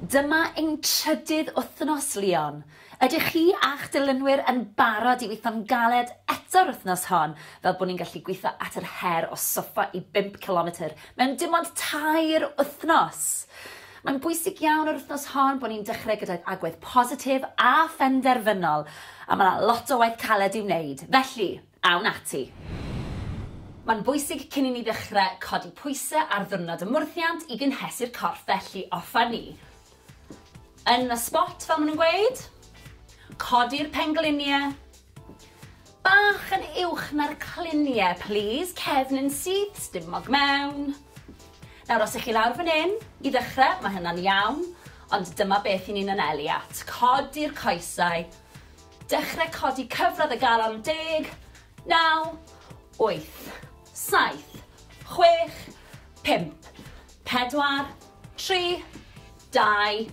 Dyma ein trydydd wythnos, Leon. Ydych chi a'ch dilynwyr yn barod i weithio'n galed eto'r wythnos hon, fel bod ni'n gallu gweithio at yr her o soffa i bump cilometr mewn dim ond tair wythnos? Mae'n bwysig iawn yr wythnos hon bod ni'n dechrau gydag agwedd positif a phenderfynol, a mae 'na lot o waith caled i'w wneud. Felly, A wn ati. Mae'n bwysig cyn i ni ddechrau codi pwysau ar ddiwrnod y mwrthiant i gynhesu'r corff felly offer ni yn y spot fel maen nhw'n gweud. Codi'r pengliniau bach yn uwch na'r cliniau plîs, cefn yn syth, stumog mewn. Nawr os ych chi lawr fan hyn i ddechrau mae hynna'n iawn ond dyma beth i ni'n anelu at, codi'r coesau Dechrau codi cyfradd y galon deg, naw, wyth, saith, chwech, pump, pedwar, tri, dau,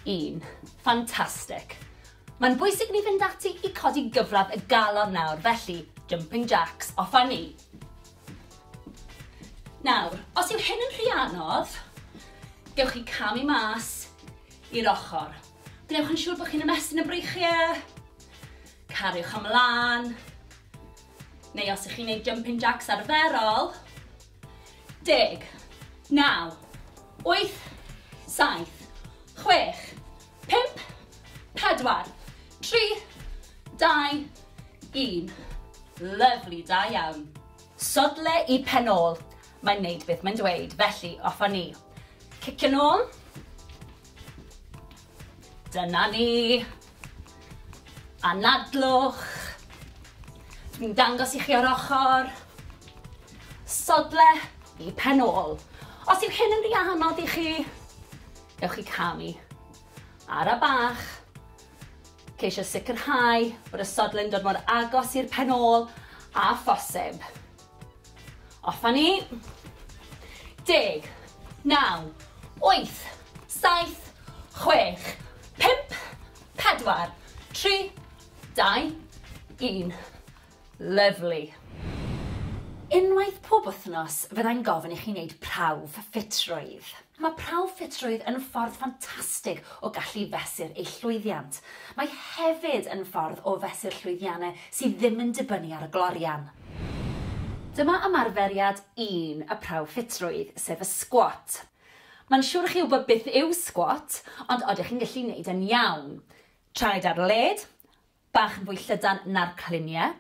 un. Fantastic. Mae'n bwysig ni fynd ati i codi gyfradd y galon nawr, felly jumping jacks, off a ni. Nawr, os yw hyn yn rhy anodd, gewch chi camu mas i'r ochr. Gwnewch yn siŵr bod chi'n ymestyn y breichiau. Cariwch ymlaen. Neu os ych chi'n gwneud jumping jacks arferol. Deg, naw, wyth, saith, chwech, pimp, pedwar, tri, dau, un. Lyflu, da iawn. Sodle i pen ôl. Mae'n neud beth mae'n dweud, felly off â ni. Cicio'n ôl. Dyna ni. Anadlwch. Dwi'n dangos i chi o'r ochr. Sodle i pen ôl. Os yw hyn yn rhy anodd i chi, ewch i camu. Ara bach. Ceisio sicrhau bod y sodle'n dod mor agos i'r pen ôl a phosib. Off a ni. Deg. Naw. Wyth. Saith. Chwech. Pump. Pedwar. Tri. Dau. Un. Lyfli. Unwaith pob wythnos fyddai'n gofyn i chi wneud prawf ffitrwydd. Mae prawf ffitrwydd yn ffordd ffantastig o gallu fesur eich llwyddiant. Mae hefyd yn ffordd o fesur llwyddiannau sydd ddim yn dibynnu ar y glorian. Dyma ymarferiad un y prawf ffitrwydd, sef y sgwat. Mae'n siwr i chi wybod beth yw sgwat, ond odych chi'n gallu neud e'n iawn? Traed ar led, bach yn fwy llydan na'r cliniau,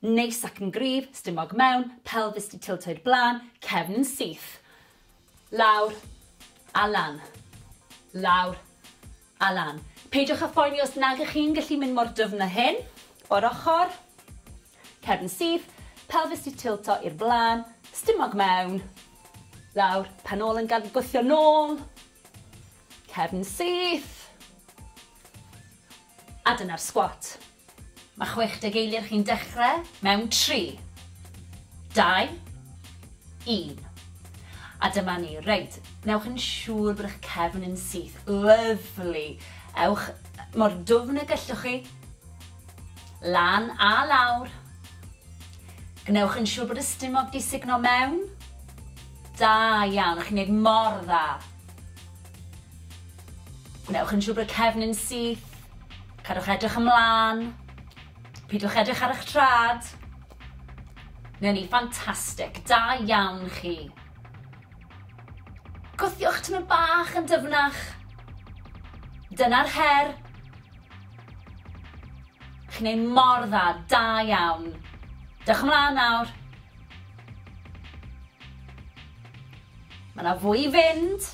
Neis ac yn gryf, stumog mewn, pelfis 'di tiltio i'r blaen, cefn yn syth. Lawr a lan. Lawr a lan. Peidiwch â phoeni os nag ych chi'n gallu mynd mor dyfn â hyn. O'r ochr. Cefn yn syth, pelfis 'di tiltio i'r blaen, stumog mewn. Lawr, pen ôl yn gad gwthio nôl. Cefn yn syth. A dyna'r sgwat. Mae 60 eiliad chi'n dechrau mewn 3, 2, 1. A dyma ni. Reit, newch yn siŵr bod eich cefn yn syth. Lyfli. Ewch mor dwfn y gellwch chi. Lan a lawr. Gwnewch yn siŵr bod y stumog di signo mewn. Da iawn, chi'n neud mor dda. Gwnewch yn siŵr bod cefn yn syth. Cadwch edrych ymlaen. Pidwch edrych ar eich trad. Newn ni, ffantastig. Da iawn chi. Gwthiwch tymor bach yn dyfnach. Dyna'r her. Chi'n ei mor dda, da iawn. Dewch ymlaen nawr. Mae yna fwy i fynd.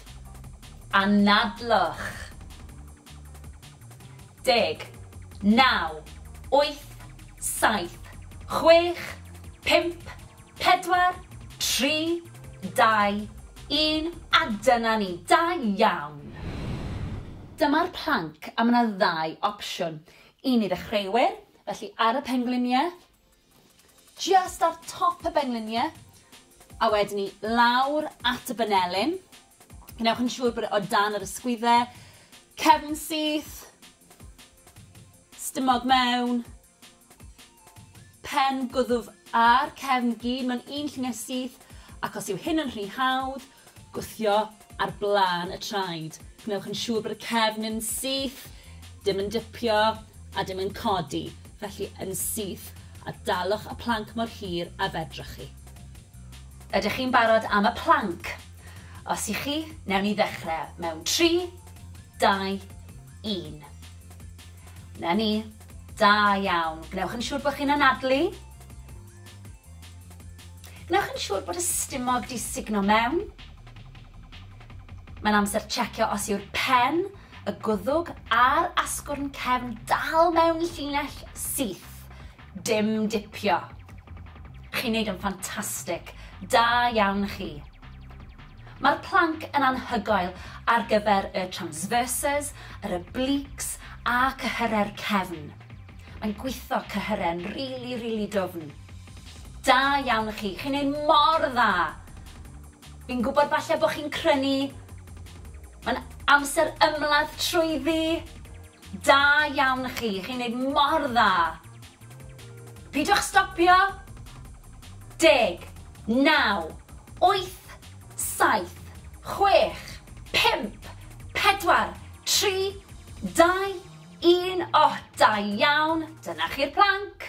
Anadlwch. Deg. Naw. Wyth. Saith. Chwech. Pump. Pedwar. Tri. Dau. Un. A dyna ni. Da iawn! Dyma'r planc a mae yna ddau opsiwn. Un i ddechreuwyr, felly ar y pengliniau, Jyst ar top y bengliniau, a wedyn ni lawr at y banelin. Gwnewch yn siŵr bod e o dan yr ysgwyddau, cefn syth, stumog mewn, pen gwddf a'r cefn gyd mewn un lluniau syth, ac os yw hyn yn rhy hawdd, Gwthio ar blaen y traed. Gwnewch yn siŵr bod y cefn yn syth, dim yn dipio a dim yn codi, felly yn syth, a dalwch y planc mor hir a fedrwch chi. Ydych chi'n barod am y planc? Os y'ch chi, newn ni ddechrau mewn tri, dau, un. 'Na ni. Da iawn. Gwnewch yn siŵr bod chi'n anadlu. Gwnewch yn siŵr bod y stumog 'di sugno mewn. Mae'n amser checio os yw'r pen, y gwddwg a'r asgwrn cefn dal mewn llinell syth. Dim dipio. Chi'n neud yn ffantastig. Da iawn chi. Mae'r planc yn anhygoel ar gyfer y transverses, yr obliques a cyhyrau'r cefn. Mae'n gwitho'r cyhyren rili rili dwfn. Da iawn i chi, chi'n neud mor dda! Fi'n gwybod falle bod chi'n crynu, mae'n amser ymladd trwyddi! Da iawn i chi, chi'n neud mor dda! Pidwch stopio! Deg, naw, wyth, saith, chwech, pump, pedwar, tri, dau, Un oh da iawn! Dyna chi'r plank!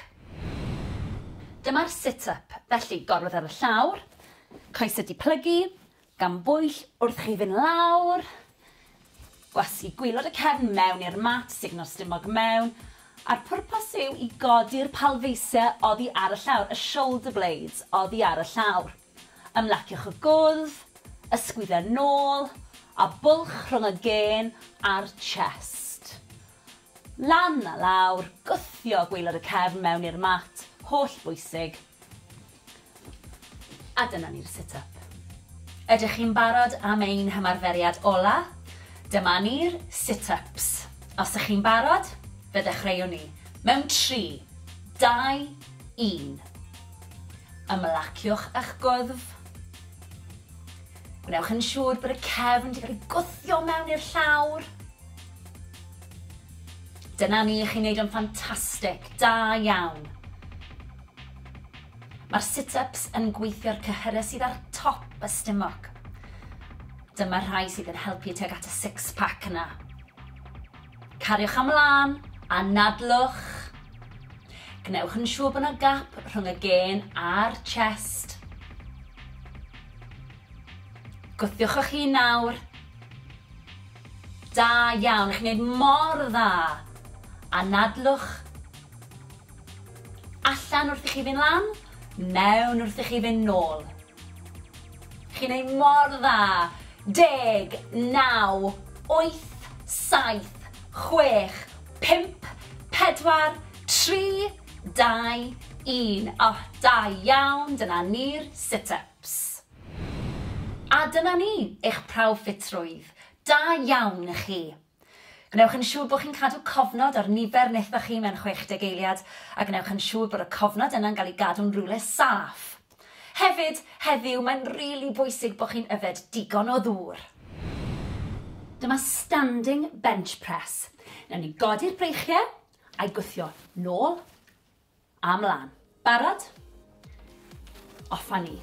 Dyma'r sit up, felly gorwedd ar y llawr, coesau di plygu, gan bwyll wrth chi fyn lawr, gwasgu gwylod y cefn mewn i'r mat, sugno'r stumog mewn, a'r pwrpas yw i godi'r palfeisiau oddi ar y llawr, y shoulder blades oddi ar y llawr. Ymlaciwch y gwddf, ysgwyd a nôl, a bwlch rhwng y gên a'r chest. Lan a lawr, gwthio gwaelod y cefn mewn i'r mat, holl bwysig. A dyna ni'r sit up. Ydych chi'n barod am ein hymarferiad ola? Dyma ni'r sit ups. Os ych chi'n barod, fe ddechreuwn ni. Mewn tri, dau, un. Ymlaciwch â'ch gwddf. Gwnewch yn siŵr bod y cefn wedi cael ei gwthio mewn i'r llawr. Dyna ni, chi'n neud o'n ffantastig, da iawn. Mae'r sit-ups yn gweithio'r cyhyrau sydd ar top y stumog. Dyma'r rhai sydd yn helpu tuag at y six-pack yna. Cariwch ymlaen, anadlwch. Gwnewch yn siŵr bod yna gap rhwng y gên a'r chest. Gwthiwch o'ch hun nawr. Da iawn, chi'n gwneud mor dda. Anadlwch. Allan wrth i chi fynd lan, mewn wrth i chi fynd nôl. Chi'n neud mor dda! Deg, naw, wyth, saith, chwech, pump, pedwar, tri, dau, un. O, da iawn, dyna ni'r sit-ups. A dyna ni, eich prawf ffitrwydd. Da iawn i chi. Gwnewch yn siŵr bod chi'n cadw cofnod ar nifer wnaethoch chi mewn 60 eiliad, a gwnewch yn siŵr bod y cofnod yna'n cael ei gadw'n rywle saff. Hefyd, heddiw, mae'n rili bwysig bod chi'n yfed digon o ddŵr. Dyma standing bench press. Newn ni godi'r breichiau, a'i gwthio nôl, A mlan. Barod? Off a ni.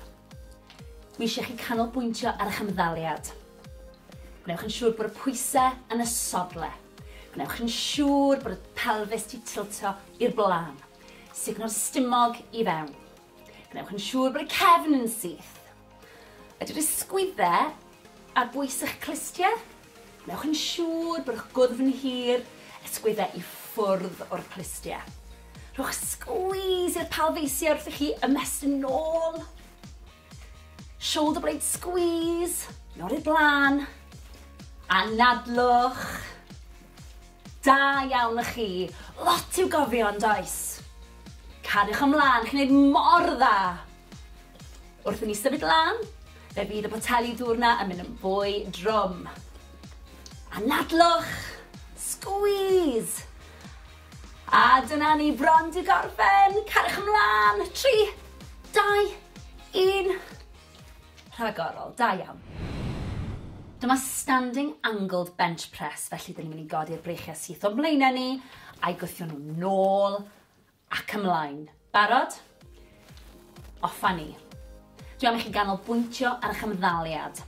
Dwi eisiau chi canolbwyntio ar eich ymddaliad. Gwnewch yn siŵr bod y pwysau yn y sodle. Gwnewch yn siŵr bod y pelfis di tiltio i'r blaen. Sugno'r stumog i fewn. Gwnewch yn siŵr bod y cefn yn syth. Ydy'r ysgwyddau ar bwys eich clustiau? Wnewch yn siŵr bod eich gwddf yn hir, ysgwyddau i ffwrdd o'r clustiau. Rhowch sgwîs i'r palfeisiau wrth i chi ymestyn yn ôl. Shoulder blade squeeze, yn ôl i'r blaen. Anadlwch. Da iawn y chi. Lot i'w gofio yn does? Cariwch ymlaen, chi'n gwneud mor dda. Wrth i ni symud lan, fe fydd y poteli dŵr 'na yn mynd yn fwy drwm. Anadlwch! Squeeze! A dyna ni bron 'di gorffen! Cariwch ymlan! Tri, dau, un. Rhagorol, da iawn. Dyma standing angled bench press, felly dyn ni'n mynd i godi'r breichiau syth o'n mlaenau ni, a'i gwthio nhw'n nôl Ac ymlaen. Barod? Off a ni. Dwi am i chi ganolbwyntio ar eich ymddaliad.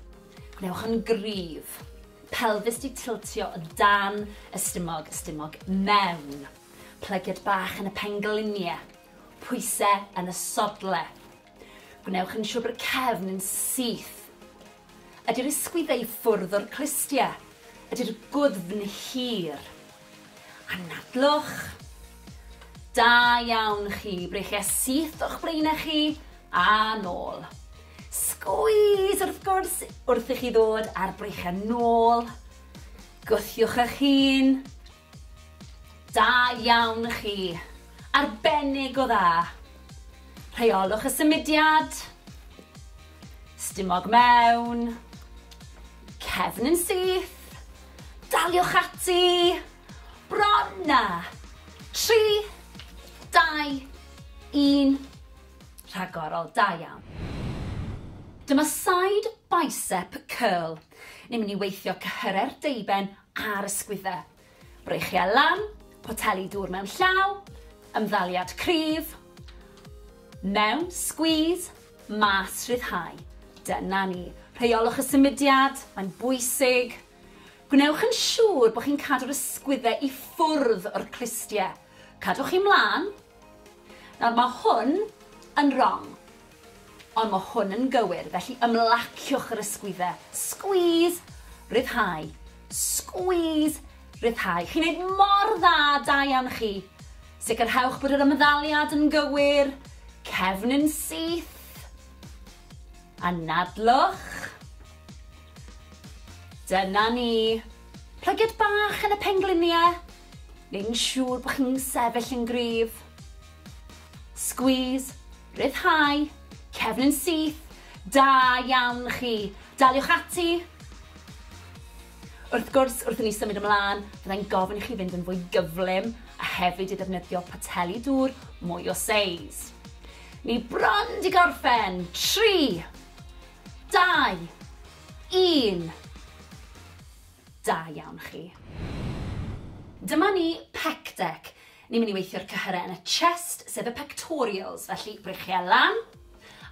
Gwnewch yn gryf. Pelfis di tiltio o dan y stumog, y stumog mewn. Plygiad bach yn y penglinie. Pwyse yn y sodle. Gwnewch yn siwr bod y cefn yn syth. Ydy'r ysgwyddau i ffwrdd o'r clustia? Ydy'r gwddfn hir? Anadlwch. Da iawn chi, breichia syth o'ch blaenau chi a nôl. Sgwys wrth gwrs wrth i chi ddod a'r breichiau nôl. Gwthiwch eich hun. Da iawn chi. Arbennig o dda. Rheolwch y symudiad. Stumog mewn. Cefn yn syth. Daliwch ati. Bron na. 3, 2, 1. Rhagorol, da iawn. Dyma side bicep curl. Ni'n mynd i weithio cyhyrau'r deuben ar y sgwydde. Breichiau lan, poteli dŵr mewn llaw, ymddaliad cryf, mewn, squeeze, mas, rhyddhau. Dyna ni. Rheolwch y symudiad, mae'n bwysig. Gwnewch yn siŵr bod chi'n cadw'r ysgwydde i ffwrdd o'r clustiau. Cadwch chi mlaen, Nawr mae hwn yn rong, ond mae hwn yn gywir, felly ymlaciwch yr ysgwyddau. Squeeze, rhyddhau, squeeze, rhyddhau. Chi'n neud mor dda, da iawn chi. Sicrhewch bod yr ymddaliad yn gywir, cefn yn syth. Anadlwch. Dyna ni. Plygiad bach yn y pengliniau. neu'n siŵr bod chi'n sefyll yn gryf. Squeeze, rhyddhau, cefn yn syth, da iawn chi. Daliwch ati. Wrth gwrs, wrth i ni symud ymlaen, byddai'n gofyn i chi fynd yn fwy gyflym a hefyd i ddefnyddio poteli dŵr mwy o seis. Ni bron di gorffen. 3, 2, 1. Da iawn chi. Dyma ni, pec deck. Ni'n mynd i weithio'r cyhyrau yn y chest, sef y pectorials, felly breichiau lan,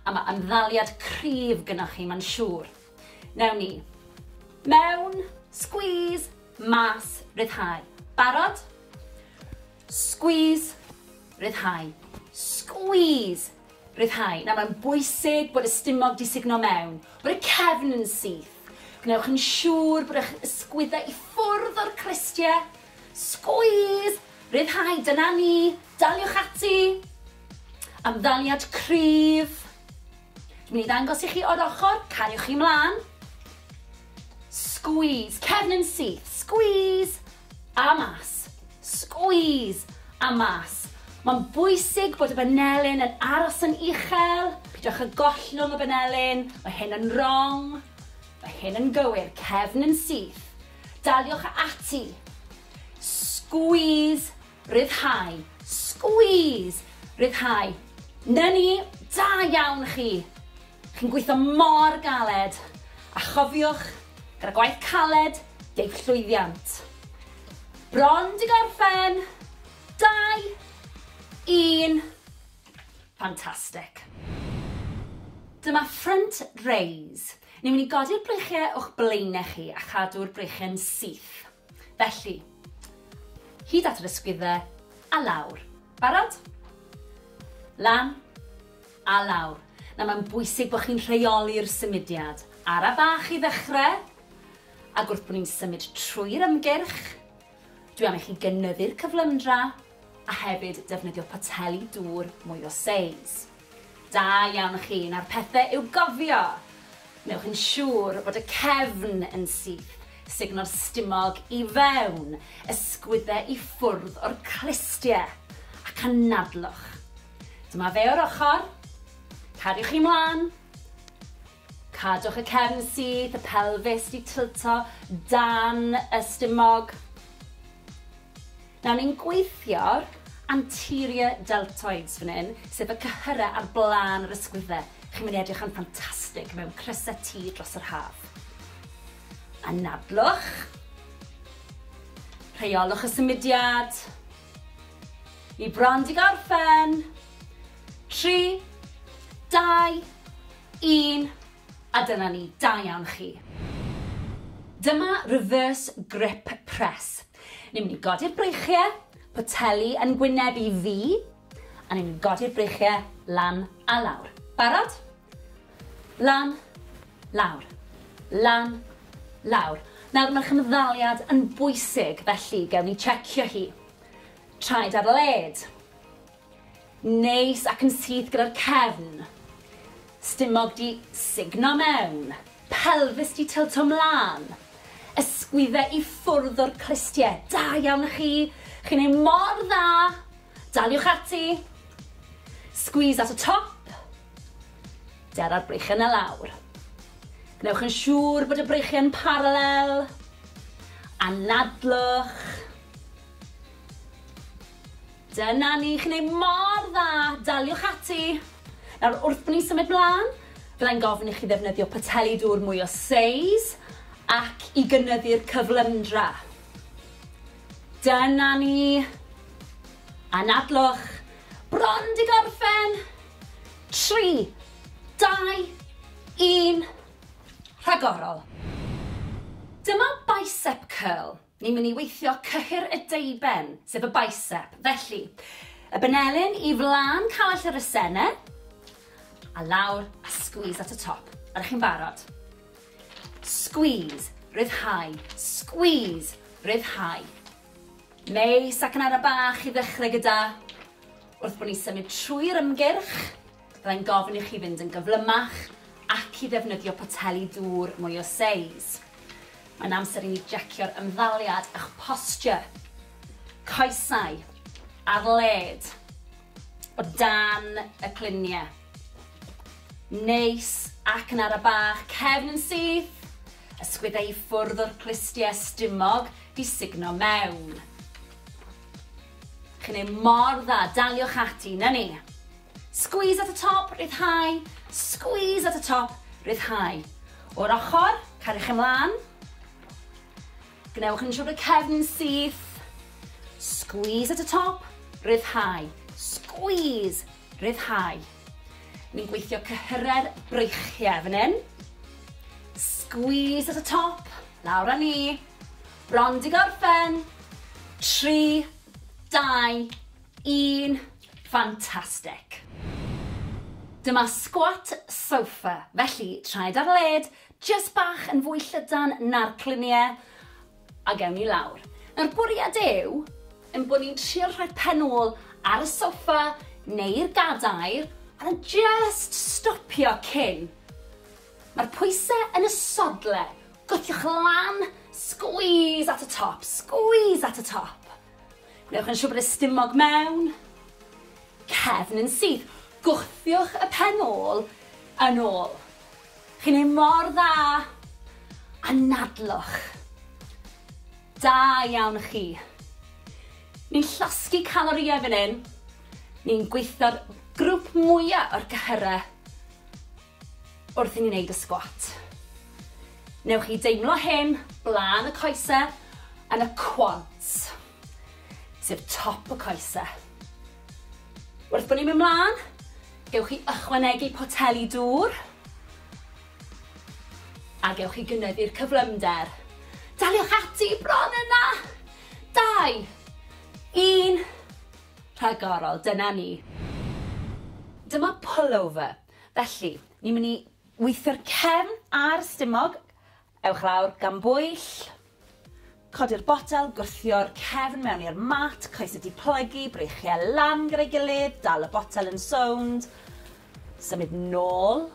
a mae ymddaliad cryf gynnwch chi, mae'n siŵr. Newn ni. Mewn, squeeze, mas, ryddhau. Barod? Squeeze, ryddhau. Squeeze, Rhyddhau. Nawr, mae'n bwysig bod y stumog 'di sugno mewn, bod y cefn yn syth. Gwnewch yn siŵr bod eich ysgwyddau i ffwrdd o'r clustie. Sgwîs! Rhyddhau, dyna ni! Daliwch ati! Ymddaliad cryf. Dwi'n mynd i ddangos i chi o'r ochr, cariwch chi mlaen. Sgwîs, cefn yn syth, sgwîs! A mas. Squeeze! A mas. Mae'n bwysig bod y banelyn yn aros yn uchel. Peidiwch â gollwng y banelyn. Mae hyn yn wrong. Mae hyn yn gywir. Cefn yn syth. Daliwch ati. Squeeze! Rhyddhau. Squeeze! Rhyddhau. 'Na ni! Da iawn chi! Chi'n gweithio mor galed! A chofiwch, gyda gwaith caled, deiff llwyddiant. Bron 'di gorffen! Dau! Un! Fantastic. Dyma front raise. Ni'n mynd i godi'r breichiau o'ch blaenau chi a chadw'r breichiau'n syth. Felly, hyd at yr ysgwyddau, a lawr. Barod? Lan, a lawr. Nawr mae'n bwysig bod chi'n rheoli'r symudiad. Ara bach i ddechrau, ac wrth bod ni'n symud trwy'r ymgyrch, dwi am i chi gynyddu'r cyflymdra, a hefyd defnyddio poteli dŵr mwy o seis. Da iawn chi, nawr pethe i'w gofio! Wnewch yn siŵr bod y cefn yn syth, sugno'r stumog i fewn, ysgwydde i ffwrdd o'r clustie, ac anadlwch. Dyma fe o'r ochr. Cariwch chi mlan. Cadwch y cefn syth, y pelfis di tilto dan y stumog. Nawr ni'n gweithio'r anterior deltoids fan hyn, sef y cyhyrau ar blaen yr ysgwyddau. Chi'n mynd i edrych yn ffantastig mewn crysau T dros yr haf. Anadlwch. Rheolwch y symudiad. Ni bron di gorffen. Tri, dau, Un, a dyna ni, da iawn chi. Dyma reverse grip press. Ni'n mynd i godi'r breichiau, poteli yn gwyneb i fi, a ni'n mynd i godi'r breichiau lan a lawr. Barod? Lan, lawr, lan, lawr. Nawr mae'r chymddaliad yn bwysig, felly gewn ni checio hi. Traed ar led. Neis ac yn syth gyda'r cefn. Stumog 'di sugno mewn. Pelfis 'di tylto 'mlan. Ysgwydde i ffwrdd o'r clustie. Da iawn chi! Chi'n neud mor dda! Daliwch ati! Squeeze at y top. Dera'r breichiau 'na lawr. Gwnewch yn siŵr bod y breichiau yn paralel. Anadlwch. Dyna ni, chi'n neud mor dda, daliwch ati! Nawr, wrth ni symud mlan, byddai'n gofyn i chi ddefnyddio poteli dŵr mwy o seis ac i gynyddu'r cyflymdra. Dyna ni! Anadlwch! Bron 'di gorffen! Tri, dau, un, rhagorol! Dyma bicep curl. Ni'n mynd i weithio cyhyr y deuben, sef y bicep. Felly, y benelin i flan call yr asene, a lawr, a squeeze at y top. Ydych chi'n barod? Squeeze, ryddhau, squeeze, ryddhau. Neu sacanara bach i ddechrau gyda, wrth bod ni'n symud trwy'r ymgyrch, Byddai'n gofyn i chi fynd yn gyflymach ac i ddefnyddio poteli dŵr mwy o seis. Mae'n amser i ni jecio'r ymddaliad a'ch posture. Coesau ar led, o dan y cluniau. Neis ac yn ara bach, cefn yn syth, ysgwyddau i ffwrdd o'r clustiau stumog di sugno mewn. Chi'n ei mor dda, daliwch ati, na ni. Squeeze at y top, rhyddhau, squeeze at y top, rhyddhau. O'r ochr, cariwch ymlaen. Gwnewch yn siŵr bod y cefn yn syth. Squeeze at y top, rhyddhau, squeeze, rhyddhau. Ni'n gweithio cyhyrau'r breichiau fan hyn. Squeeze at y top, lawr â ni. Bron di gorffen. 3, 2, Yn ffantastig! Dyma squat sofa, felly traed ar led, jyst bach yn fwy llydan na'r clunie, a gewn ni lawr. Nawr bwriad yw ein bod ni'n trio rhoi pen ôl ar y sofa neu'r gadair a jyst stopio cyn. Mae'r pwyse yn y sodle, gwthiwch lan, squeeze at y top, squeeze at y top. Gwnewch yn siŵr bod y stumog mewn cefn yn syth. Gwthiwch y pen ôl yn ôl. Chi'n ei mor dda! Anadlwch. Da iawn chi. Ni'n llosgi calorïau fan hyn. Ni'n gweithio'r grwp mwya o'r gyhyrau. Wrth i ni wneud y sgwat, newch chi deimlo hyn blaen y coese yn y quads, sef top y coese. Wrth bod ni'n mynd mlaen, gewch chi ychwanegu poteli dŵr a gewch chi gynyddu'r cyflymder. Daliwch ati, bron yna! Dau, un, rhagorol, dyna ni. Dyma pullover. Felly, ni'n mynd i weithio'r cefn a'r stumog. Ewch lawr, gan bwyll. Codi'r botel, gwthio'r cefn mewn i'r mat, coesau di plygu, breichiau lan gyda'i gilydd, dal y botel yn sownd, symud nôl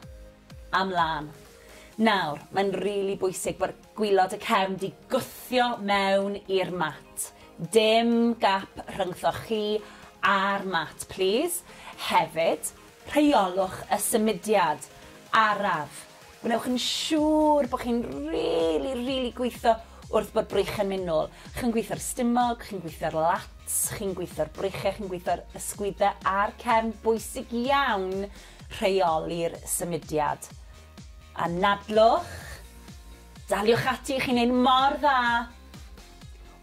a mlan. Nawr, mae'n rili really bwysig bod gwylod y cefn di gwthio mewn i'r mat. Dim gap rhyngthoch chi a'r mat, plîs. Hefyd, Rheolwch y symudiad araf. Gwnewch yn siŵr bod chi'n rili, rili gweithio wrth bod breichiau'n mynd nôl. Chi'n gweithio'r stumog, chi'n gweithio'r lats, chi'n gweithio'r breichiau, chi'n gweithio'r ysgwyddau a'r cefn. Bwysig iawn rheoli'r symudiad. Anadlwch. Daliwch ati, chi'n neud mor dda.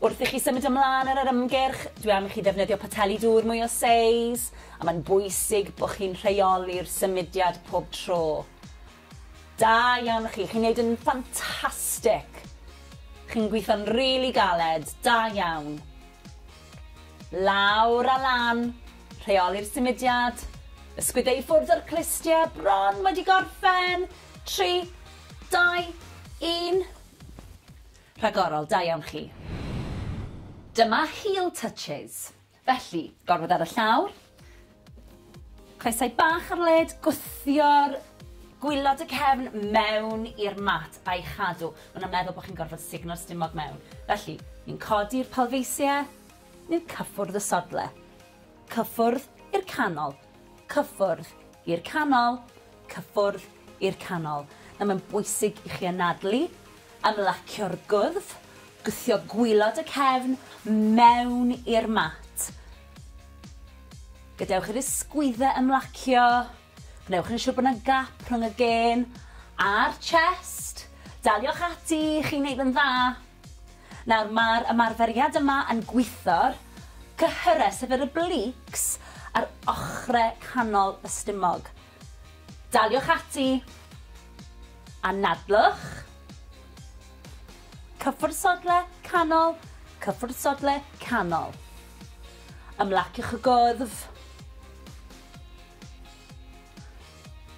Wrth i chi symud ymlaen ar yr ymgyrch, dwi am i chi ddefnyddio poteli dŵr mwy o seis, a mae'n bwysig bod chi'n rheoli'r symudiad pob tro. Da iawn chi, chi'n neud yn ffantastic! Chi'n gweithio'n rili galed, da iawn. Lawr a lan, rheoli'r symudiad, ysgwydde i ffwrdd o'r clustie, bron wedi gorffen, tri, dau, un. Rhagorol, da iawn chi. Dyma heel touches. Felly, gorwedd ar y llawr, coesau bach ar led, gwthio'r gwylod y cefn mewn i'r mat a'i chadw. Maen nhw'n meddwl bod chi'n gorfod sugno'r stumog mewn. Felly, ni'n codi'r palfeisiau, ni'n cyffwrdd y sodle. Cyffwrdd i'r canol. Cyffwrdd i'r canol, cyffwrdd i'r canol. Nawr mae'n bwysig i chi anadlu, ymlacio'r gwddf, gwthio gwylod y cefn mewn i'r mat. Gadewch i'r ysgwyddau ymlacio, gwnewch yn siŵr bod yna gap rhwng y gên a'r chest. Daliwch ati, chi'n neud yn dda. Nawr mae'r ymarferiad yma yn gwitho'r cyhyrau, sef yr obliques, ar ochrau canol y stumog. Daliwch ati. Anadlwch. Cyffwrdd sodle, canol, cyffwrdd sodle, canol. Ymlaciwch y gwddf.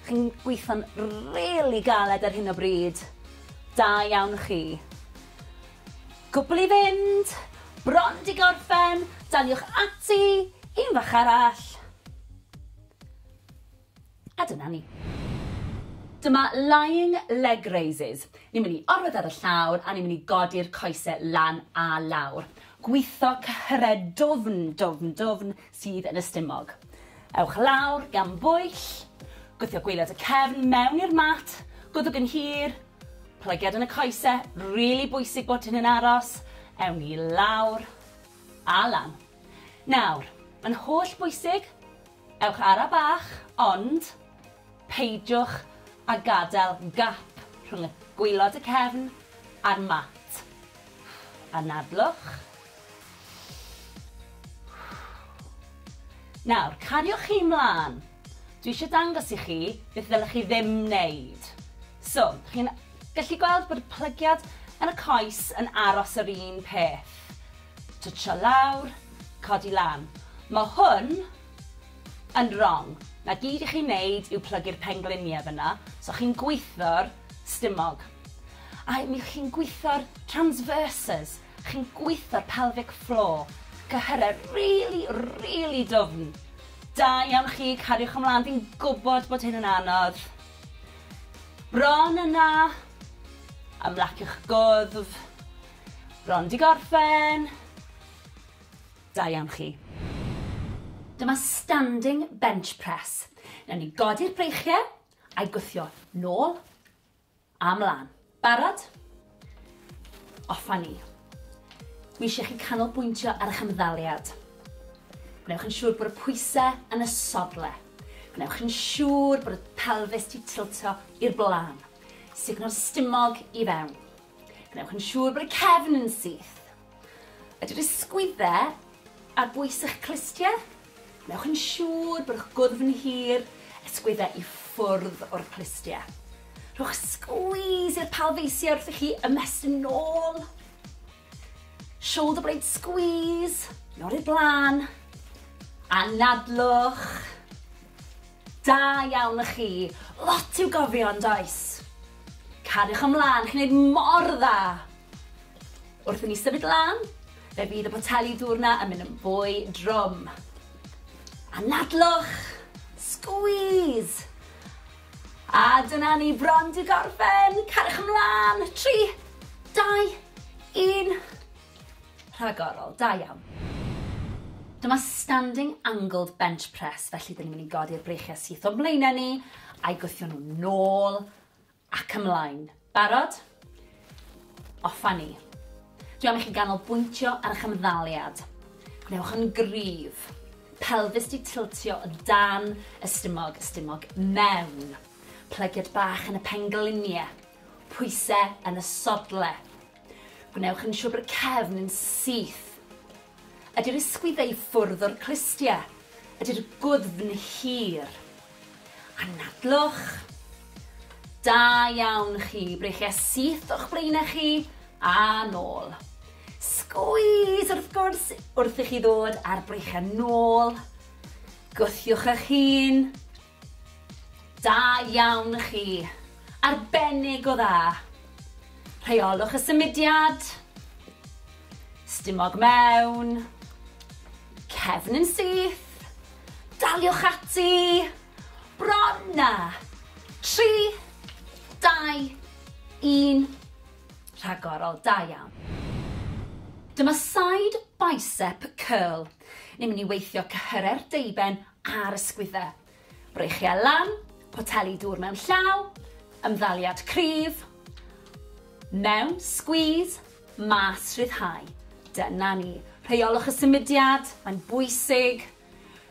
Chi'n gweithio'n rili galed ar hyn o bryd. Da iawn chi. Cwbl i fynd! Bron di gorffen! Daliwch ati! Un fach arall! A dyna ni. Dyma lying leg raises. Ni'n mynd i orwedd ar y llawr a ni'n mynd i godi'r coese lan a lawr. Gwitho cyhredwfn, dwfn, dwfn, sydd yn y stumog. Ewch lawr gan bwyll, gwthio gwaelod y cefn mewn i'r mat, gwddwg yn hir, plygiad yn y coese, rili bwysig bod hyn yn aros, ewn ni lawr a lan. Nawr, mae'n holl bwysig, ewch ara bach, ond peidiwch a gadael gap rhwng y gwaelod y cefn a'r mat. Anadlwch. Nawr, cariwch chi 'mlan. Dwi eisiau dangos i chi beth ddylech chi ddim wneud. So, chi'n gallu gweld bod y plygiad yn y coes yn aros yr un peth. Twtsio lawr, codi lan. Mae hwn yn wrong. Na gyd i chi wneud yw plygu'r pengliniau fyna, so chi'n gwitho'r stumog. A mi chi'n gwitho'r transverses, Chi'n gwitho'r pelvic floor. Cyhyre rili, rili dwfn. Da iawn chi, cariwch ymlan, fi'n gwbod bod hyn yn anodd. Bron yna. Ymlaciwch gwddf. Bron di gorffen. Da iawn chi. Dyma standing bench press. Newn ni godi'r breichie, a'i gwthio nôl, A mlan. Barod? Off a ni. Dwi eisiau chi canolbwyntio ar eich ymddaliad. Gwnewch yn siŵr bod y pwysau yn y sodle. Gwnewch yn siŵr bod y pelfis di tiltio i'r blaen. Sugno'r stumog i fewn. Gwnewch yn siŵr bod y cefn yn syth. Ydy'r ysgwydde ar bwys eich clustie? Wnewch yn siŵr bod eich gwddf yn hir, ysgwydde i ffwrdd o'r clustie. Rhowch squeeze i'r palfeisiau wrth i chi ymestyn nôl. Shoulder blade squeeze, nôl i'r blaen. Anadlwch. Da iawn y chi. Lot i'w gofio yn does? Cariwch ymlaen, chi'n gwneud mor dda. Wrth i ni symud lan, fe fydd y poteli dŵr 'na yn mynd yn fwy drwm. Anadlwch! Squeeze! A dyna ni bron 'di gorffen! Cariwch ymlan! Tri, dau, un. Rhagorol, da iawn. Dyma standing angled bench press, felly dyn ni'n mynd i godi'r breichiau syth o'n mlaenau ni, a'i gwthio nhw'n nôl Ac ymlaen. Barod? Off a ni. Dwi am i chi ganolbwyntio ar eich ymddaliad. Gwnewch yn gryf. Pelfis di tiltio o dan y stumog, y stumog mewn. Plygiad bach yn y penglinie. Pwyse yn y sodle. Gwnewch yn siwr bod y cefn yn syth. Ydy'r ysgwyddau i ffwrdd o'r clustiau. Ydy'r gwddfn hir. Anadlwch. Da iawn chi. Breichiau syth o'ch blaenau chi a nôl. Sgwys wrth gwrs wrth i chi ddod a'r breichiau nôl. Gwthiwch eich hun. Da iawn chi! Arbennig o dda! Rheolwch y symudiad. Stumog mewn. Cefn yn syth. Daliwch ati. Bron na! 3, 2, 1. Rhagorol, da iawn. Dyma side bicep curl. Ni'n mynd i weithio cyhyrau'r deuben ar y sgwydde. Breichiau lan, poteli dŵr mewn llaw, ymddaliad cryf, mewn, squeeze, mas, rhyddhau. Dyna ni. Rheolwch y symudiad, mae'n bwysig.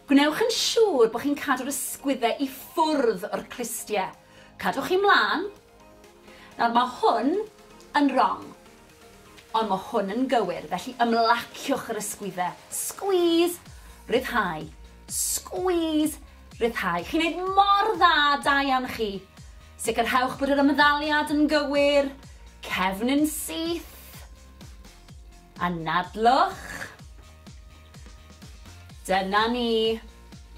Gwnewch yn siŵr bod chi'n cadw'r ysgwydde i ffwrdd o'r clustiau. Cadwch chi mlaen, Nawr mae hwn yn rong. Ond mae hwn yn gywir, felly ymlaciwch yr ysgwydde. Squeeze! Rhyddhau. Squeeze! Rhyddhau. Chi'n neud mor dda, da iawn chi. Sicrhewch bod yr ymddaliad yn gywir. Cefn yn syth. Anadlwch. Dyna ni.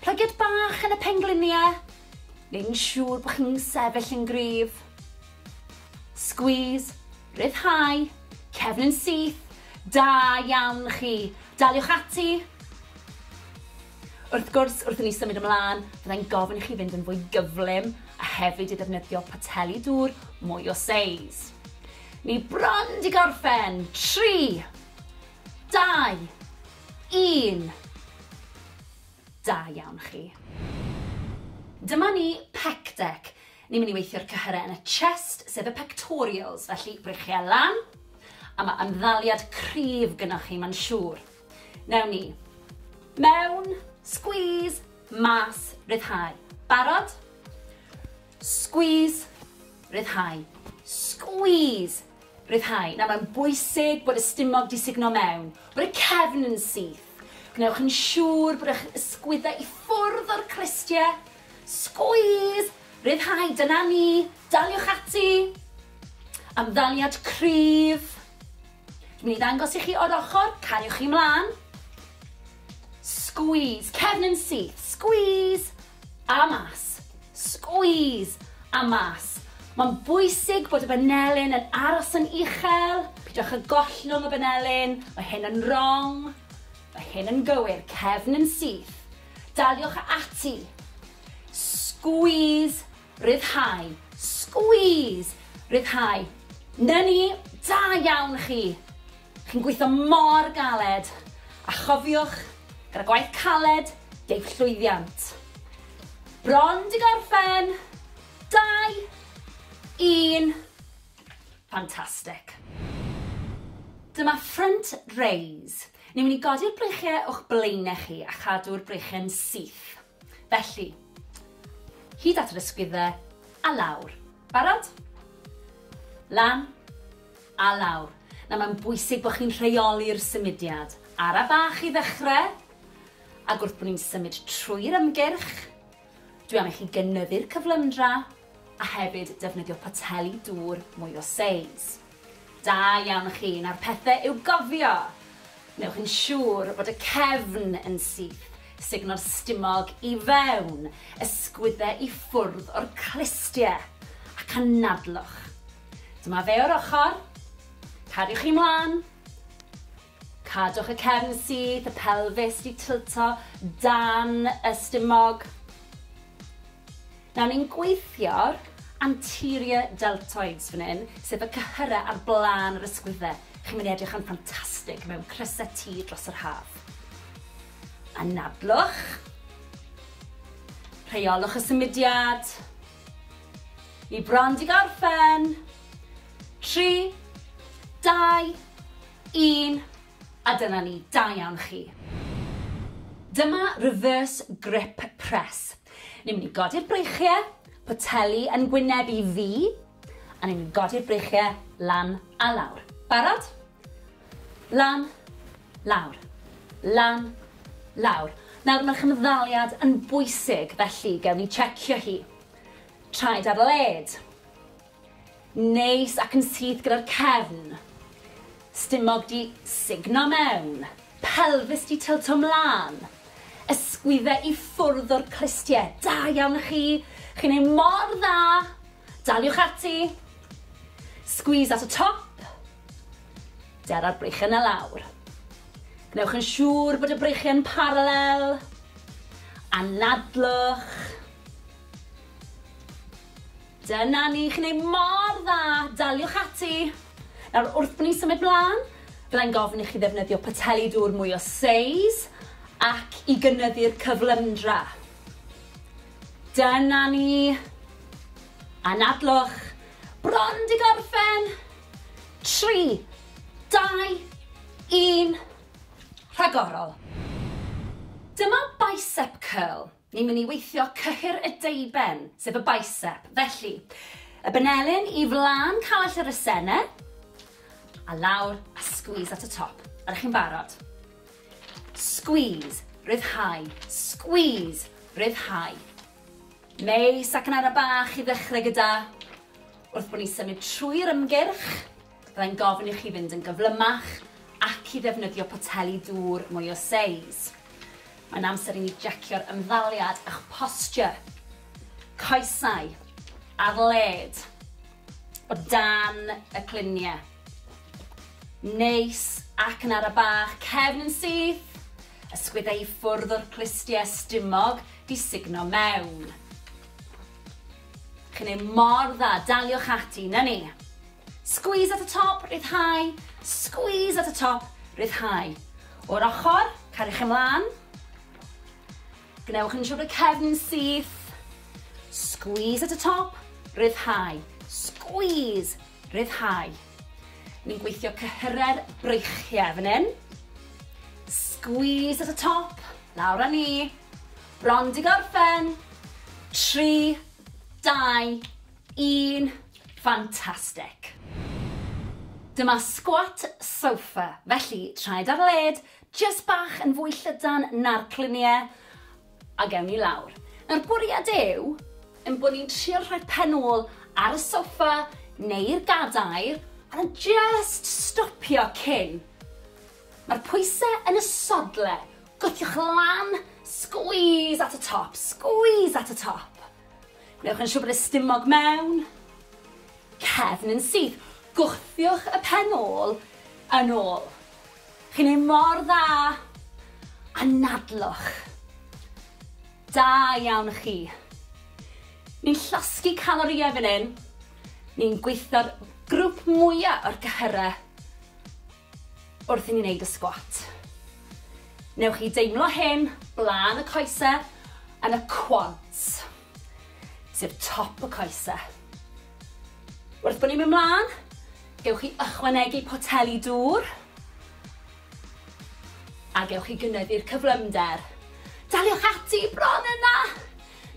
Plygiad bach yn y pengliniau. neu'n siŵr bod chi'n sefyll yn gryf. Squeeze, rhyddhau, cefn yn syth, da iawn chi. Daliwch ati. Wrth gwrs, wrth i ni symud ymlaen, byddai'n gofyn i chi fynd yn fwy gyflym a hefyd i ddefnyddio poteli dŵr mwy o seis. Ni bron di gorffen. 3, 2, 1. Da iawn chi. Dyma ni, pec deck. Ni'n mynd i weithio'r cyhyrau yn y chest, sef y pectorials, felly breichiau lan, a mae ymddaliad cryf gynnwch chi, mae'n siŵr. Newn ni. Mewn, squeeze, mas, ryddhau. Barod? Squeeze, ryddhau. Squeeze, Rhyddhau. Nawr, mae'n bwysig bod y stumog 'di sugno mewn, bod y cefn yn syth. Gwnewch yn siŵr bod eich ysgwyddau i ffwrdd o'r clustie. Sgwîs! Rhyddhau, dyna ni! Daliwch ati! Ymddaliad cryf. Dwi'n mynd i ddangos i chi o'r ochr, cariwch chi mlaen. Sgwîs, cefn yn syth, sgwîs! A mas. Squeeze! A mas. Mae'n bwysig bod y banelyn yn aros yn uchel, peidiwch â gollwng y banelyn, mae hyn yn wrong, mae hyn yn gywir, cefn yn syth. Daliwch ati. Squeeze! Rhyddhau. Squeeze! Rhyddhau. 'Na ni! Da iawn chi! Chi'n gweithio mor galed! A chofiwch, gyda gwaith caled, deiff llwyddiant. Bron 'di gorffen! Dau! Un! Fantastic. Dyma front raise. Ni'n mynd i godi'r breichiau o'ch blaenau chi a chadw'r breichiau'n syth. Felly, hyd at yr ysgwyddau, a lawr. Barod? Lan, a lawr. Nawr mae'n bwysig bod chi'n rheoli'r symudiad. Ara bach i ddechrau, ac wrth bod ni'n symud trwy'r ymgyrch, dwi am i chi gynyddu'r cyflymdra, a hefyd defnyddio poteli dŵr mwy o seis. Da iawn chi, nawr pethe i'w gofio! Wnewch yn siŵr bod y cefn yn syth, sugno'r stumog i fewn, ysgwydde i ffwrdd o'r clustie, ac anadlwch. Dyma fe o'r ochr, cadwch chi mlan, Cadwch y cefn syth, y pelfis 'di tilto dan y stumog. Nawr ni'n gweithio'r anterior deltoids fan hyn, sef y cyhyrau ar blaen yr ysgwydde. Chi'n mynd i edrych yn ffantastig mewn crysau T dros yr haf. Anadlwch. Rheolwch y symudiad. Ni bron 'di gorffen. Tri, dau, Un, a dyna ni, da iawn chi. Dyma reverse grip press. Ni'n mynd i godi'r breichiau, poteli yn gwyneb i fi, a ni'n mynd i godi'r breichiau lan a lawr. Barod? Lan, lawr, lan, lawr. Nawr mae'r chymddaliad yn bwysig, felly gewn ni checio hi. Traed ar led. Neis ac yn syth gyda'r cefn. Stumog 'di sugno mewn. Pelfis 'di tylto 'mlan. Ysgwydde i ffwrdd o'r clustie. Da iawn chi! Chi'n neud mor dda! Daliwch ati! Squeeze at y top. Dera'r breichiau 'na lawr. Gwnewch yn siŵr bod y breichiau yn paralel. Anadlwch. Dyna ni, chi'n neud mor dda, daliwch ati! Nawr, wrth bo ni'n symud mlan, byddai'n gofyn i chi ddefnyddio poteli dŵr mwy o seis ac i gynyddu'r cyflymdra. Dyna ni! Anadlwch! Bron 'di gorffen! Tri, dau, un, rhagorol! Dyma bicep curl. Ni'n mynd i weithio cyhyr y deuben, sef y bicep. Felly, y benelin i flan call ar y sene, a lawr a squeeze at y top. Ydych chi'n barod? Squeeze, ryddhau, squeeze, ryddhau. Neis, ac yn ara bach i ddechrau gyda, wrth bod ni'n symud trwy'r ymgyrch, Byddai'n gofyn i chi fynd yn gyflymach ac i ddefnyddio poteli dŵr mwy o seis. Mae'n amser i ni jecio'r ymddaliad a'ch posture. Coesau ar led, o dan y cluniau. Neis ac yn ara bach, cefn yn syth, ysgwyddau i ffwrdd o'r clustiau stumog di sugno mewn. Chi'n ei mor dda, daliwch ati, na ni. Squeeze at y top, rhyddhau, squeeze at y top, rhyddhau. O'r ochr, cariwch ymlaen. Gwnewch yn siŵr bod y cefn yn syth. Squeeze at y top, rhyddhau, squeeze, rhyddhau. Ni'n gweithio cyhyrau'r breichiau fan hyn. Squeeze at y top, lawr â ni. Bron di gorffen. 3, 2, Yn ffantastig! Dyma squat sofa, felly traed ar led, jyst bach yn fwy llydan na'r clunie, a gewn ni lawr. Nawr bwriad yw ein bod ni'n trio rhoi pen ôl ar y sofa neu'r gadair a jyst stopio cyn. Mae'r pwyse yn y sodle, gwthiwch lan, squeeze at y top, squeeze at y top. Gwnewch yn siŵr bod y stumog mewn cefn yn syth. Gwthiwch y pen ôl yn ôl. Chi'n neud mor dda! Anadlwch. Da iawn chi. Ni'n llosgi calorïau fan hyn. Ni'n gweithio'r grŵp mwya' o'r cyhyre. Wrth i ni wneud y sgwat, newch chi deimlo hyn blaen y coese yn y quads, sef top y coese. Wrth bod ni'n mynd mlaen, gewch chi ychwanegu poteli dŵr a gewch chi gynyddu'r cyflymder. Daliwch ati, bron yna!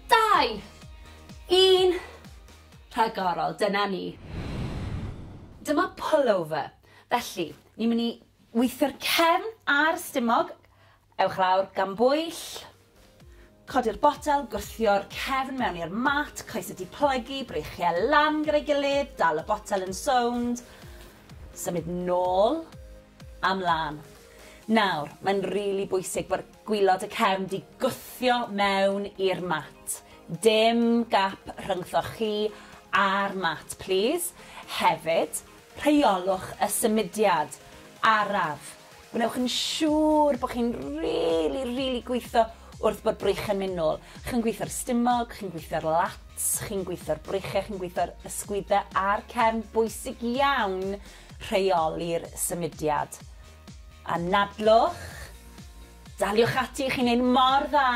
Dau, un, rhagorol, dyna ni. Dyma pullover. Felly, ni'n mynd i weithio'r cefn a'r stumog. Ewch lawr gan bwyll. Codi'r botel, gwthio'r cefn mewn i'r mat, coesau di plygu, breichiau lan gyda'i gilydd, dal y botel yn sownd, symud nôl a mlan. Nawr, mae'n rili bwysig bod gwylod y cefn di gwthio mewn i'r mat. Dim gap rhyngthoch chi a'r mat, plîs. Hefyd, Rheolwch y symudiad araf. Gwnewch yn siŵr bod chi'n rili, rili gweithio wrth bod brych yn mynd nôl. Chi'n gweithio'r stumog, chi'n gweithio'r lats, chi'n gweithio'r breichiau, chi'n gweithio'r ysgwyddau a'r cefn. Bwysig iawn rheoli'r symudiad. Anadlwch. Daliwch ati, chi'n neud mor dda.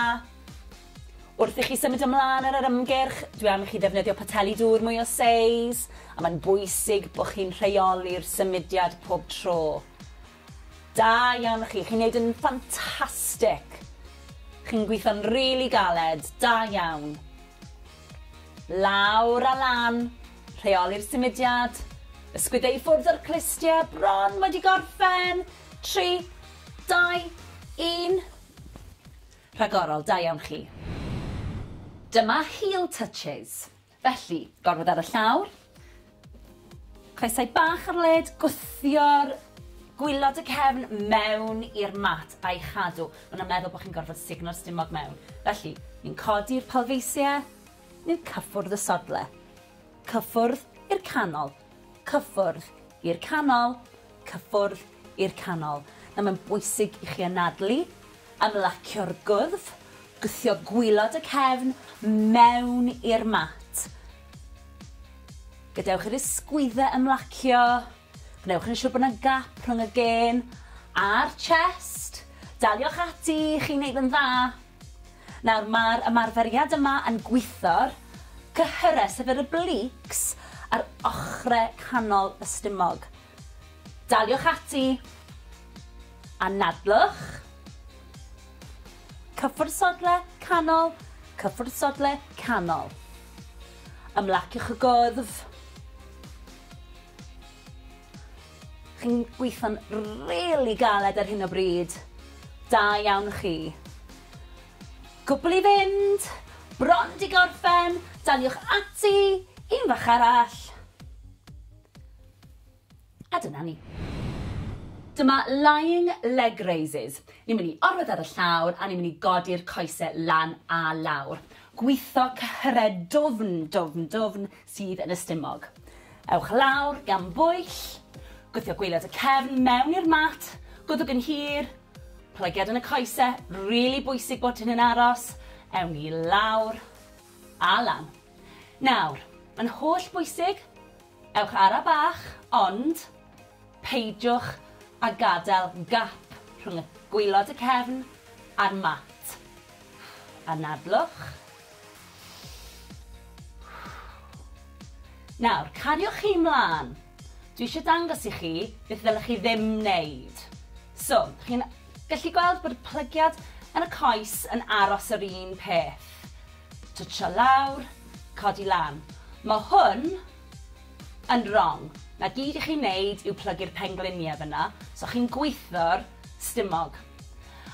Wrth i chi symud ymlaen ar yr ymgyrch, dwi am i chi ddefnyddio poteli dŵr mwy o seis, a mae'n bwysig bod chi'n rheoli'r symudiad pob tro. Da iawn o chi, chi'n neud yn ffantastig! Chi'n gweithio'n rili really galed, da iawn. Lawr a lan, rheoli'r symudiad, ysgwydde i ffwrdd o'r clustie, bron wedi gorffen, 3, 2, 1. Rhagorol, da iawn chi. Dyma heel touches. Felly, gorwedd ar y llawr, coesau bach ar led, gwthio'r gwylod y cefn mewn i'r mat a'i chadw. Maen nhw'n meddwl bod chi'n gorfod sugno'r stumog mewn. Felly, ni'n codi'r palfeisiau, ni'n cyffwrdd y sodle. Cyffwrdd i'r canol. cyffwrdd i'r canol, cyffwrdd i'r canol. Nawr mae'n bwysig i chi anadlu, ymlacio'r gwddf, gwthio gwylod y cefn mewn i'r mat. Gadewch i'r ysgwyddau ymlacio, gwnewch yn siŵr bod yna gap rhwng y gên a'r chest. Daliwch ati, chi'n neud yn dda. Nawr mae'r ymarferiad yma yn gwitho'r cyhyrau, sef yr obliques, ar ochrau canol y stumog. Daliwch ati. Anadlwch. Cyffwrdd sodle, canol, cyffwrdd sodle, canol. Ymlaciwch y gwddf. Chi'n gweithio'n rili galed ar hyn o bryd. Da iawn chi. Cwpl i fynd, bron di gorffen, daliwch ati, un fach arall. A dyna ni. Dyma lying leg raises. Ni'n mynd i orwedd ar y llawr a ni'n mynd i godi'r coese lan a lawr. Gwitho cyhre dwfn, dwfn, dwfn, sydd yn y stumog. Ewch lawr gan bwyll, gwthio gwaelod y cefn mewn i'r mat, gwddwg yn hir, plygiad yn y coese, rili bwysig bod hyn yn aros, ewn ni lawr a lan. Nawr, mae'n holl bwysig, ewch ara bach, ond peidiwch a gadael gap rhwng y gwaelod y cefn a'r mat. Anadlwch, Nawr, cariwch chi 'mlan. Dwi eisiau dangos i chi beth ddylech chi ddim wneud. So, chi'n gallu gweld bod y plygiad yn y coes yn aros yr un peth. Twtsio lawr, codi lan. Mae hwn yn wrong. Na gyd i chi wneud yw plygu'r pengliniau fyna, so chi'n gwitho'r stumog.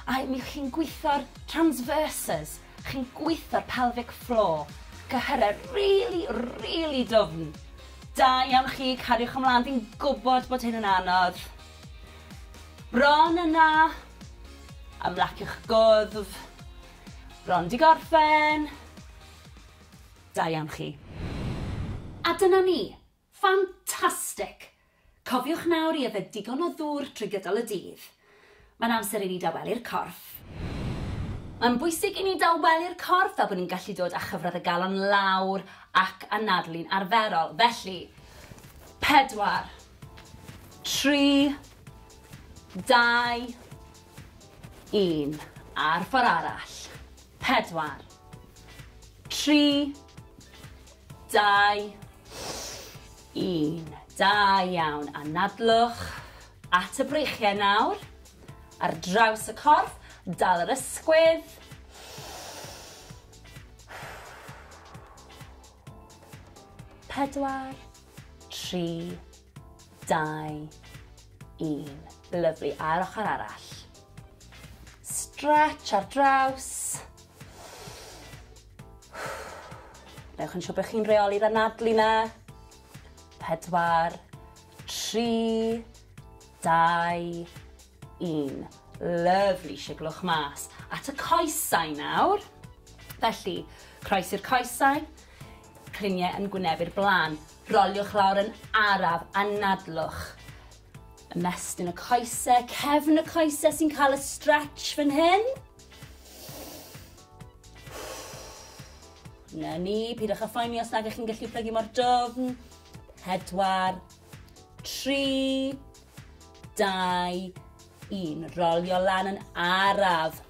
A mi chi'n gwitho'r transverses, Chi'n gweitho'r pelvic floor. Cyhyrau rili, rili dwfn. Da iawn chi, cariwch ymlaen, fi'n gwybod bod hyn yn anodd. Bron yna. Ymlaciwch gwddf. Bron di gorffen. Da iawn chi. A dyna ni. Ffantastig! Cofiwch nawr i yfed digon o ddŵr drwy gydol y dydd. Mae'n amser i ni dawelu'r corff. Mae'n bwysig i ni dawelu'r corff fel bod ni'n gallu dod â chyfradd y galon lawr ac anadlu'n arferol. Felly, pedwar, tri, dau, un. A'r ffordd arall. Pedwar, tri, Dau, un. Da iawn. Anadlwch at y breichiau nawr. Ar draws y corff, dal yr ysgwydd. Pedwar, tri, dau, un. Lyflu. A'r ochr arall. Stretch ar draws. Newch yn siŵr bod chi'n reoli'r anadlu na. Pedwar, tri, dau, un. Lyfli, siglwch mas. At y coesau nawr. Felly, croes i'r coesau, cliniau yn gwynebu'r blaen. Roliwch lawr yn araf, anadlwch. Ymestyn y coesau, cefn y coesau sy'n cael y stretch fan hyn. Na ni, pidwch â phoeni os nag ych chi'n gallu plygu mor dofn. Pedwar, tri, dau, un. Rolio lan yn araf.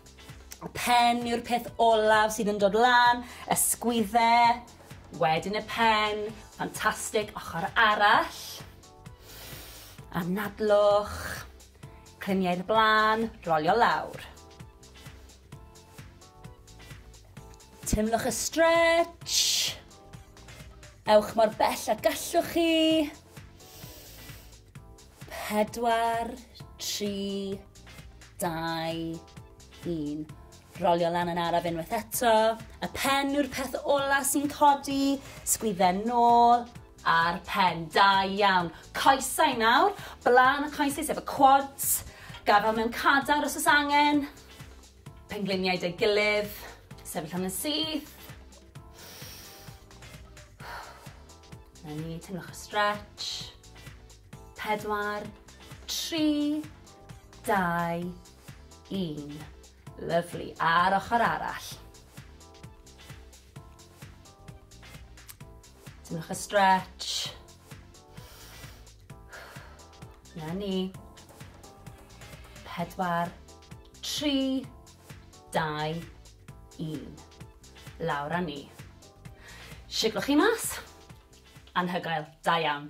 Y pen yw'r peth olaf sydd yn dod lan, ysgwydde, wedyn y pen, ffantastig, ochr arall. Anadlwch, cliniau'r blaen, rolio lawr. Teimlwch y stretch. Ewch mor bell a gallwch chi. Pedwar, tri, dau, un. Rolio lan yn araf unwaith eto. Y pen yw'r peth ola sy'n codi. Sgwydden nôl a'r pen. Da iawn. Coesau nawr. Blaen y coesau sef y quads. Gafel mewn cadar os oes angen. Pengliniau deu gilydd, sefyll am yn syth. Na ni, teimlwch y stretch. Pedwar, tri, dau, un. Lyflu, a'r ochr arall. Teimlwch y stretch. Na ni. Pedwar, tri, dau, un. Lawr a ni. Siglwch chi mas. Anhygoel. Da iawn.